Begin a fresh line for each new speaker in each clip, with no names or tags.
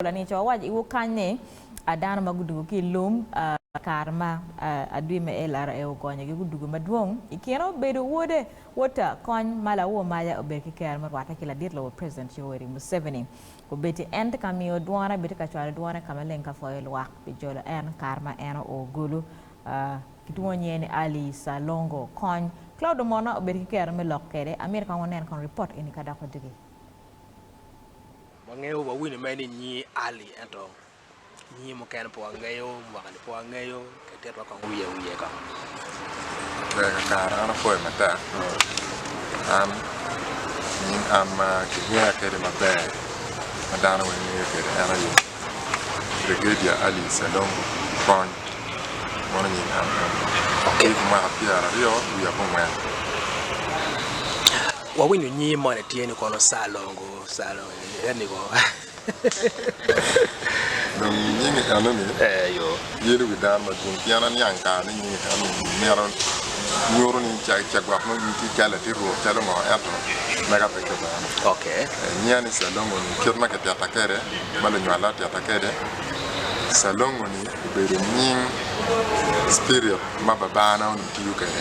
Paula ni, Co wac iwu kany ni, a dano ma gudugo ki i lum a i kare ma a adwi me LRA ogonyogi gudugo madwong i kine obedo wode, Wota, kony ma lawo maja obed ki ker me rwatte ki ladit lobo President Yoweri Museveni. Obed-di en tye ka miyo dwone bene tye ka cwalo dwone ka maleng ka pwoyo lwak pi jolo en i kare ma en oo gulu a ki twongo nyiye ni Ali Salongo. Kony Claude Omona obed ki kero me lok kede. Amyero kong wunen kong report eni ka doko diki.
Wangeyo wawinyo mere ni nyingi Ali ento nyingi mukene pe wangeyo, mwakani pe wangeyo, kit titwa kong wiye wiye kong. Ber kakare
an apoyo matek an nying an ma kingeya kwede maber ma dano weng ngeyo kwede en aye Brigedia Ali Salongo Kony meno nying an eno atye ki mwaka pyeraryo wiye abongwen.
Wawinyo nyingi moni tye ni kono Salongo.
Dong i nying enoni, yelo
wi dano
madwong, pien aniang kare ni nying enoni mito nyuto ni cagwok ma nying ki calo latit Rwot calo ngo ento mega pe Kibene. Nyinga ni
Calongo-ni,
kit ma kitita kwede, ma lunywalla otita kwede, Calongo-ni obedo nying spirit ma babana onongo tiyo kwede.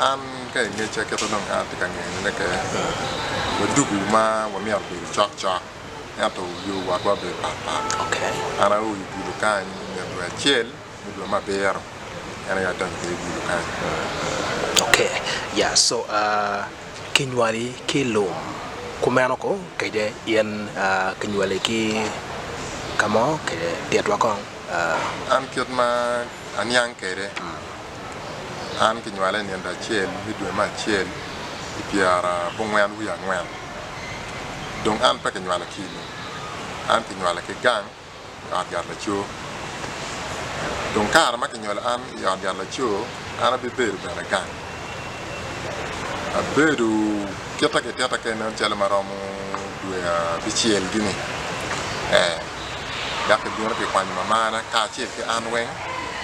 An ka
i ngeca kit ma dong an atye ka ngeyone keken ni waduku ma wamyero obedo cok cok ento yo wotwa obedo pat pat. An ao
i gudo
kany i nge dwe acel me dwe me abiro en aye adonyo kwede i gudo kany.
Kinywali ki lum kumeno ko kede in kinywali ki kamo kede titwa kong? An
kit ma aniang kede. An kinywala i nino acel me dwe me acel i pyera abongwen wiye angwen. Dong an pe kinywala ki i lum, an kinywala ki gang i ot yat laco. Dong kare ma kinyolo an i ot yat laco, an abibedo bene gang. Abedo kite ki tita kene calo ma romo dwe abicel gini ee, dok kibino kikwanyo mamana kacel ki an weng.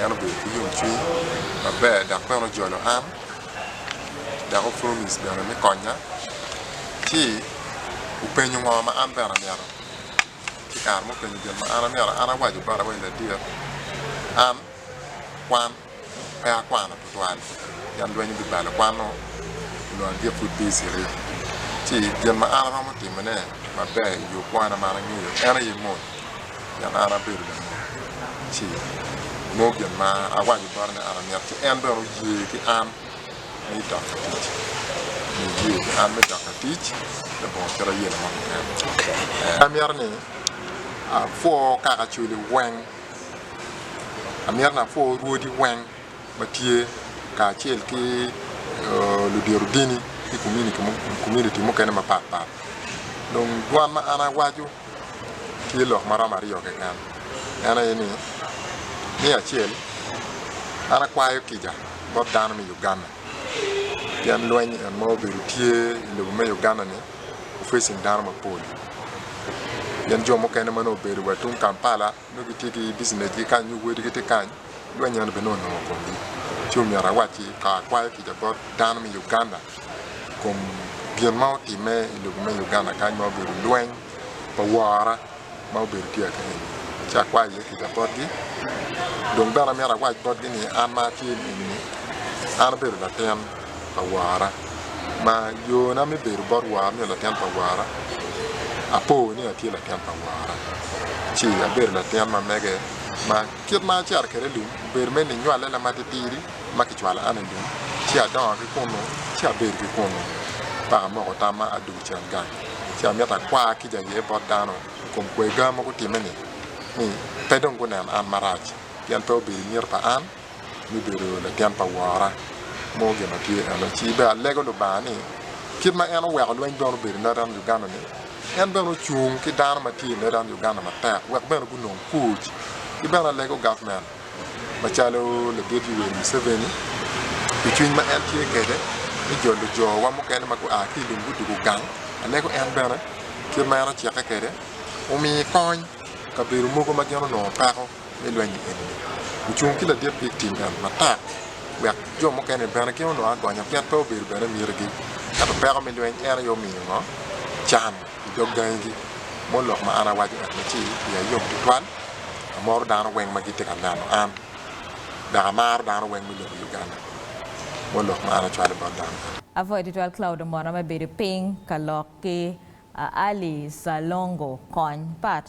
en obedo ki yomcwiny maber dok bene ojolo an dok o promise bene me konya ci openyo ngo ma an bene amyero ki kare ma openyo gin ma an amyero an awaco botone ni ladit an kwan pe akwano twal pien lweny obibalo kwano nyo adit pud tye citi ci gin ma an aromo timone maber i yo kwana ma an angeyo en aye mony pien an abedo lamony ci nongo gin ma awaco bote ni an amito ci en bene oye ki an me dok ki tic oye ki an me dok ki tic me bongo kit aye laman keken
amito ni
apwo kaka culi weng amito ni apwo rwodi weng. ma tye kacel ki ludito dini ki komuniti mukene mapatpat dong dwan ma an awaco tye lok ma romo aryo keken en aye ni me acel an akwayo kica bot dano me Uganda pien lweny en ma obedo tye i lobo me Uganda-ni ofecing dano mapol pien jo mukene ma nongo obedo wa tung Kampala Nongo gitye ki bicinecgi kany nyo wadigi tye kany, lweny eno bene onongo komgi. Ci omyero awacci ka akwayo kica bot dano me Uganda kom gin ma otimme i lobo me Uganda kany ma obedo lweny pa wora ma obedo tye aka eni. Ci akwayo iye kica botgi. Dong bene amyero awac botgi ni an ma atye eni-ni, an abedo latin. pa wara ma yona me bedo bot wara nyo latin pa wara apo ni atye latin pa wara ci abedo latin ma mege ma kit ma acito kwede i lum obedo me ninywale na matitidi ma kicwalo an i lum ci adongo ki kunu ci abedo ki kunu paka amoko tamma adwogo cen gang ci amito akwar kica aye bot dano i kom kwega ma gutimme-ni ni pe dong gunen an marac pien pe obedo i nget pa an. me bedo latin pa wora mo gin ma tye eno ci bene alego Lubanga ni kit ma en oweko lweny bene obedo i Northern Uganda ni en bene ocung ki dano ma tye i Northern Uganda matek wek bene gunong kuc ki bene alego government macalo ladit Yoweri Museveni pi cwiny ma en tye kwede me jolo jo wa mukene ma gua ki ilum gudwogo gang alego en bene kit ma en ocike kwede omi kony kabedo mogo ma gin onongo peko. me lweny-nyi eni-ni, ocung ki ladit pi tim eni matek wek jo mukene-ni bene gin onongo agonya pien pe obedo bene mitigi. Ento peko me lweny en aye omiyo ngo? Can i dog gangigi mo lok ma an awaco eni ci iya yom tutwal. Amoro dano weng ma gitye ka neno an dok amaro dano weng me lobo Uganda mo lok ma an acwalo bot dano bene. Apwoyo tutwal
Cloude Omona me bedo piny ka lok ki Ali Salongo kony pat.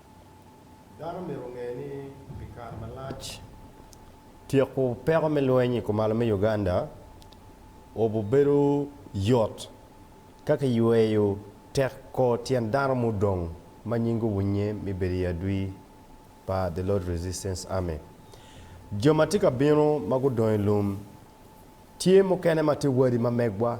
Dano myero onge ni pi kare malac, tyeko peko me lweny i kumalo me Uganda obubedo yot ka kiyweyo teko tyen dano mudong ma nying guwunye me bedo i adwi pa The Lord Resistance Army. Jo ma tye ka bino ma gudong i lum, tye mukene ma tye wadi ma megwa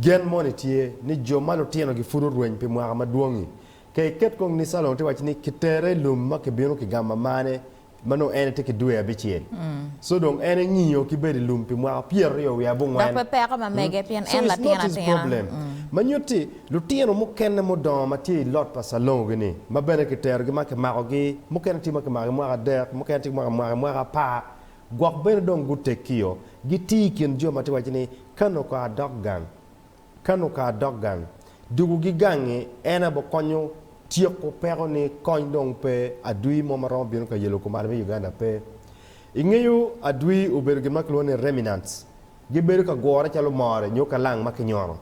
Gen moni tye ni jo ma lutinogi pud orweny pi mwaka madwong-ngi. Ka iket kong ni Calong tye waco ni kitere i lum ma kibino ki gamo amane ma nongo en etye ki dwe abicel, so dong en engiyo ki bedo i lum pi mwaka pyeraryo wiye abongwen. Dok pe peko ma mege
pien en latin atina. Ma nyuto ni
lutino mukene mudongo ma tye i lot pa Calong gini ma bene kiterogi ma kimakogi, mukene tye ma kimakogi mwaka adek, mukene tye ki mwaka mwaka apar. Gwok bene dong gutekkio, gitye i kin jo ma tye ka waco ni, Ka noko adok gang, ka noko adok gang. Dukogi gang-ngi en aye bikonyo tyeko peko ni kony dong pe, adwi mo ma romo bino ka yelo kumalo me Uganda pe. I ngeyo adwi obedo gin ma kilwongo ni remnants. Gibedo ka gure calo more nyo kalang ma kinyono.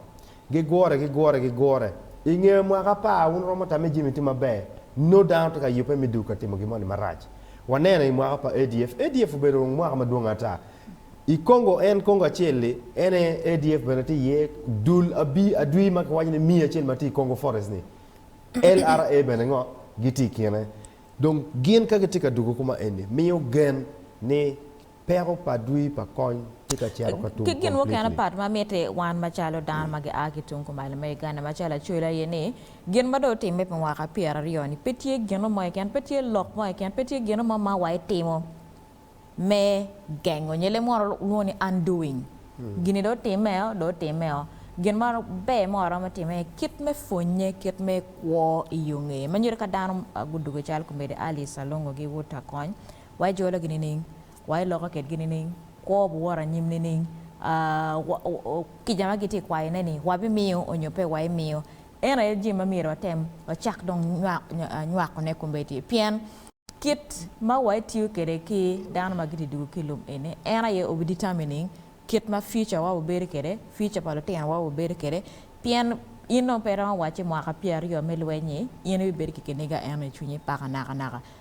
Gigure, gigure, gigure. I nge mwaka apar, wun wuromo tamme jami tye maber. Nongo dano tye ka yubbe me dul ka timo gin moni marac. Waneno i mwaka pa ADF. ADF obedo mwaka madwong ata. I Congo, en Congo acel-li, en aye ADF bene tye iye. Dul adwi ma kiwaco ni miya acel ma tye i Congo Forest-ni, LRA bene ngo? gitye i kine. Dong gin ka gitye ka dwogo kuma eni, miyo gen ni Peko pa dwi pa kony tye ka cito ka tum Ki gin mukene completely. apat ma
mitte wan macalo dano ma gia ki tung kumalo me Uganda macalo acwele aye ni, gin ma dong otimme pi mwaka pyera aryo ni pe tye gino mo keken, pe tye lok mo keken, pe tye gino mo ma wa itimo me gengo nyo le munu lwongo ni undoing. Gini dong otimme o, dong otimme o. Gin ma ber ma waromo timo aye kit me pwonye, kit me kwo i yo ngeye ma nyuto ka dano gudwogo calo Komedi Alice Alongo gi Ruta Kony, wa ijologi nining? Wa iloko kitgi nining? Kwo buwot anyim nining? Kica ma gitye ka kwayone-ni, wabimiyo nyo pe waimiyo? Eno aye jami ma myero watem wacak dong nywakone kombeddi. Pien kit ma wa itiyo kwede ki dano ma gitye dwogo ki i lum eni, en aye obi determining kit ma future wa obedo kwede, future pa lutino wa obedo kwede. Pien in dong pe iromo wacce mwaka pyeraryo me lweny-nyi, in ibibedo ki kiniga eno i cwinyi paka nakanaka.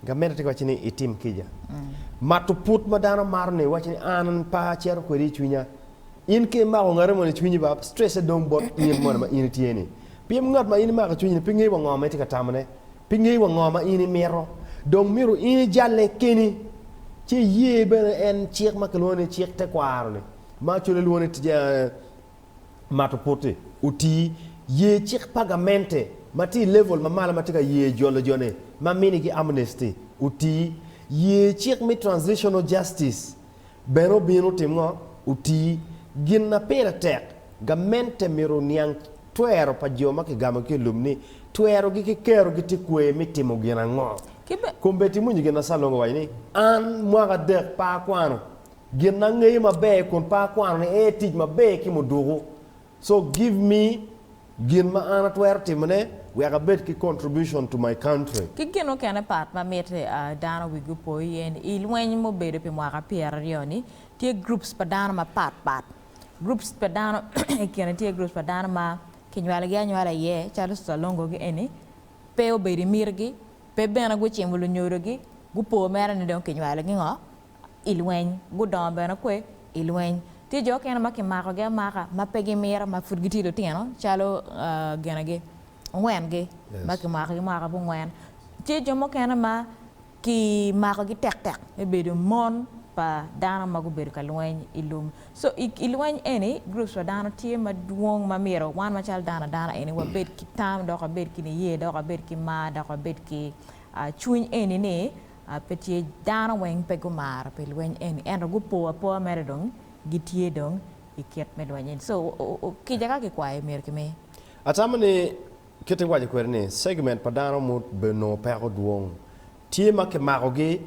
Gamente tye ka wacci ni itim kica. Mato put ma dano mato ni iwaci ni an pe acito kwede i cwinya. In ka imako ngati mono i cwinyi ba, stress-se dong bot in mono ma in itye-ni. Pien ngat ma in imako i cwinyi-ni pe ngeyo wa ngo ma itye ka tamone, pe ngeyo wa ngo ma in imito. Dong myero in ijalle keni, ci iye bene en cik ma kilwongo ni cik tekwaro-ni, ma colle lwongo ni mato poti. Oti, Ye cik pa gamente ma tye i level ma malo ma tye ka ye jolo jo-ni ma minigi amnesty. Oti, Ye cik me transitional justice bene obino otim ngo? Oti, Gin ma pire tek, gamente myero oniang twero pa jo ma kigamo ki i lum ni twerogi ki kerogi tye kwer me timo gin ango. Ki be. Combet imwonyo gin ma Salongo owaco ni, An mwaka adek pe akwano Gin angeyo maber kun pe akwano ni ee tic maber ki muduku. So give me gin ma an atwero timone wek abed ki contribution to my country. Ki gin mukene pat
ma mit dano wigi opo iye ni i lweny mubedo pi mwaka pyer aryo ni tye groups pa dano ma pat pat. Groups pa dano i kine tye groups pa dano ma ki nywalo gi anywala iye calo Susalongo gi eni pe obedo i miti gi, pe bene gucimo lunyodo gi, gupo mere ni dong ki nywalo gi ngo, i lweny, gudongo bene kwe i lweny. Tye jo okene ma kimakogi amaka ma pe gimiro ma pud gitye lutino calo ginagi ngwen-gi ma kimakogi mwaka abongwen. Tye jo mukene ma kimakogi tektek me bedo mon pa dano ma gubedo ka lweny i lum. So i lweny eni groups pa dano tye madwong ma myero wan macalo dano adana eni wabed ki tam dok wabed ki niye dok wabed ki mar dok wabed ki cwiny eni ni Pe tye dano weng pe gumar pi lweny eni ento gupo apoa mere dong gitye dong i kit me lweny eni so kica ka kikwayo myero kimi. Atamo ni
kit iwaco kwede ni segment pa dano ma obedo nongo peko dwong tye ma kimako gi,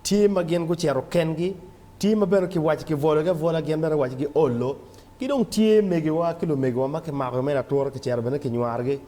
tye ma gin gucito ken gi, tye ma bene kiwaco kibwolo gi abwola gin bene waco gi olo, ki dong tye megiwa ki lumegiwa ma kimako gi mere atura kicito bene kinywaro gi.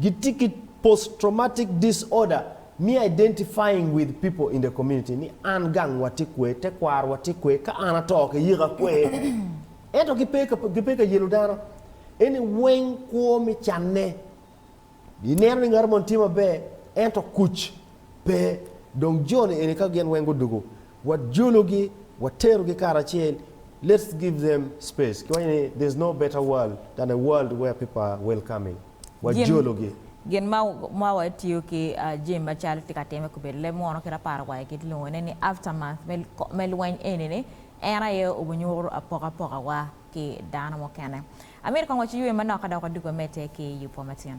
Gitye ki post-traumatic disorder me identifying with people in the community ni an gang wa tye kwer, tekwaro wa tye kwer, ka an ato ki yika kwer. Ento ki pe ki pe ka yelo dano. Eni weng kwo me canne. I neno ni ngato moni tye maber ento kuc pe. Dong joni eni ka gin weng gudugu Wajologi, waterogi karacel, let's give them space. Kiwaco ni there's no better world than a world where people are welcoming. Jim, Wajologi. Gin ma
ma watiyo ki ah, Jim macalo tye ka timme kobedo leb munu kit aparo wa kit lwongo ne ni aftermath me me lweny eni ni en aye obinyuto apokapoka wa ki dano mukene. Amito kong waci ywe manok ka dok waduga mete ki yupwa matyen.